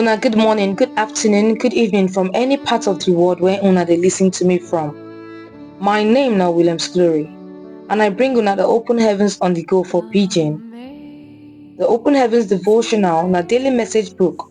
Una good morning, good afternoon, good evening from any part of the world where una dey listen to me from. My name na Williams Glory and I bring una the open heavens on the go for pidgin. The open heavens devotional na daily message book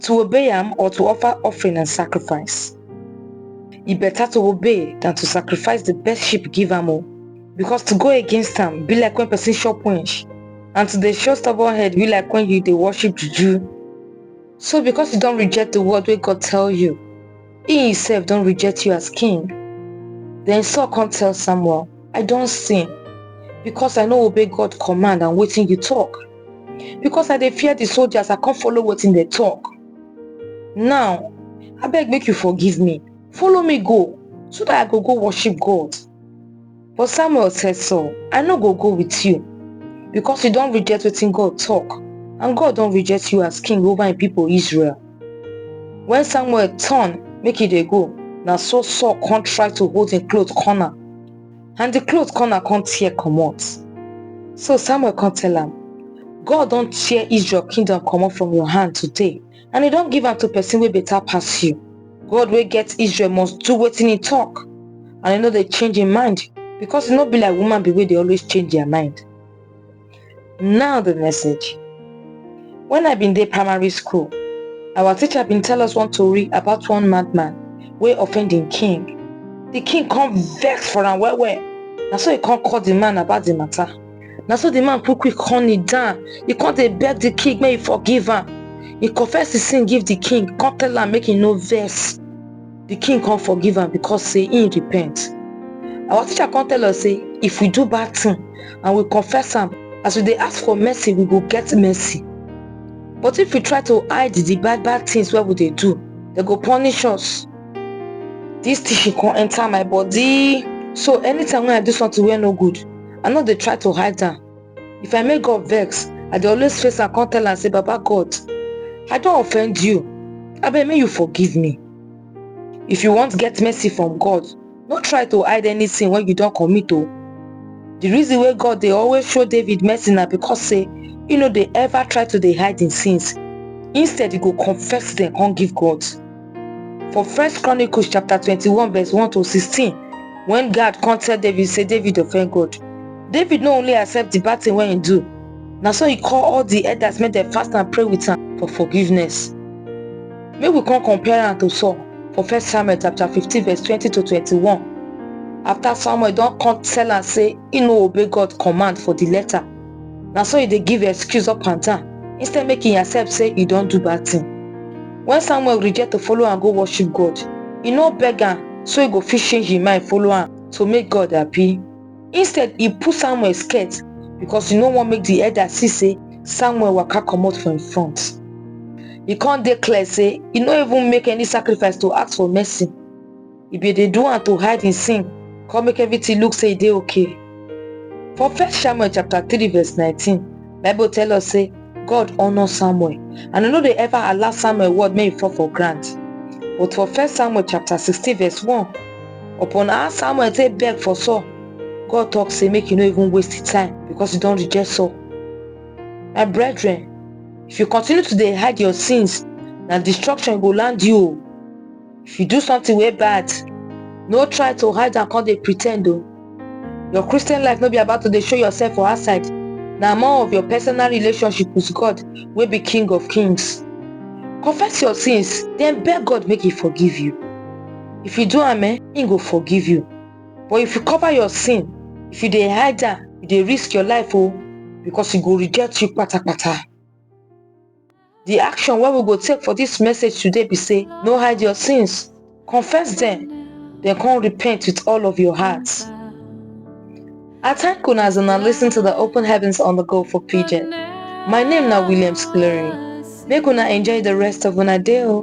to obey am or to offer offering and sacrifice. E better to obey than to sacrifice the best sheep give am o. Because to go against am be like when person chop wench and to dey show stubborn head be like when you dey worship juju. So because you don reject the word wey God tell you, He himself don reject you as king. Then Saul come tell Samuel, I don sin because I no obey God command and wetin you talk. Because I dey fear the soldiers, I come follow wetin they talk. Now, I beg make you forgive me. Follow me go so that I go go worship God. But Samuel said, Saul, I no go go with you, because you don reject wetin God talk, and God don reject you as king over im people Israel. When Samuel turn make e dey go, na so Saul come try to hold im cloth corner, and the cloth corner come tear comot. So Samuel come tell am, God don tear Israel kingdom comot from your hand today, and e don give am to person wey better pass you. God wey get Israel must do wetin he talk and he no dey change him mind because e no be like woman be wey dey always change their mind. Now the message. When I been dey primary school, our teacher been tell us one tori about one madman wey offend im king. The king come vex for am well well, na so he come call the man about the matter. na so the man quick quick come kneel down he come dey beg the king make he forgive am he confess his sin give the king come tell am make he no vex the king come forgive am because say he repent our teacher come tell us say if we do bad thing and we confess am as we dey ask for mercy we go get mercy but if we try to hide the bad bad things wey we dey do they go punish us this teaching come enter my body so anytime when i do something wey no good i no dey try to hide am if i make god vex i dey always face am come tell am say baba god i don offend you abeg make you forgive me if you want get mercy from god no try to hide anything wey you don commit o the reason wey god dey always show david mercy na because say he no dey ever try to dey hide him sins instead he go confess them come give god For First Chronicles chapter 21 verse 1 to 16, when God come tell David say David offend God, David no only accept the bad thing wey he do, na so he call all the elders make dem fast and pray with am for forgiveness. Make we come compare am to Saul for First Samuel chapter 15 verse 20 to 21. After Samuel don come tell am say he no obey God command for the letter, na so e dey give excuse up and down instead make e accept say e don do bad thing. When Samuel reject to follow am go worship God, e no beg am so e go fit change im mind follow am to make God happy. Instead, e pull Samuel skirt because e no wan make the elder see say Samuel waka comot for im front. E come dey clear say e no even make any sacrifice to ask for mercy. e bin dey do am to hide im sin come make everything look say e dey okay. For first Samuel chapter 3 verse 19, Bible tell us say God honour Samuel and e no dey ever allow Samuel word make e fall for ground. But for first Samuel chapter 16 verse 1, upon how Samuel take beg for Saul, God talk say make you no even waste the time because you don reject Saul. My brethren, if you continue to dey hide your sins, na destruction go land you o. if you do something way bad no try to hide and come dey pretend though. your christian life no be about to dey show yourself for outside na more of your personal relationship with god wey be king of kings confess your sins then beg god make he forgive you if you do am eh he go forgive you but if you cover your sin if you dey hide am you dey risk your life oh because he go reject you patapata The action wey we go take for this message today be say, no hide your sins, confess them, then come repent with all of your heart. I thank una as una listen to the Open Heavens on the Go for Pigeon. My name na Williams Clearing. Make una enjoy the rest of una day o.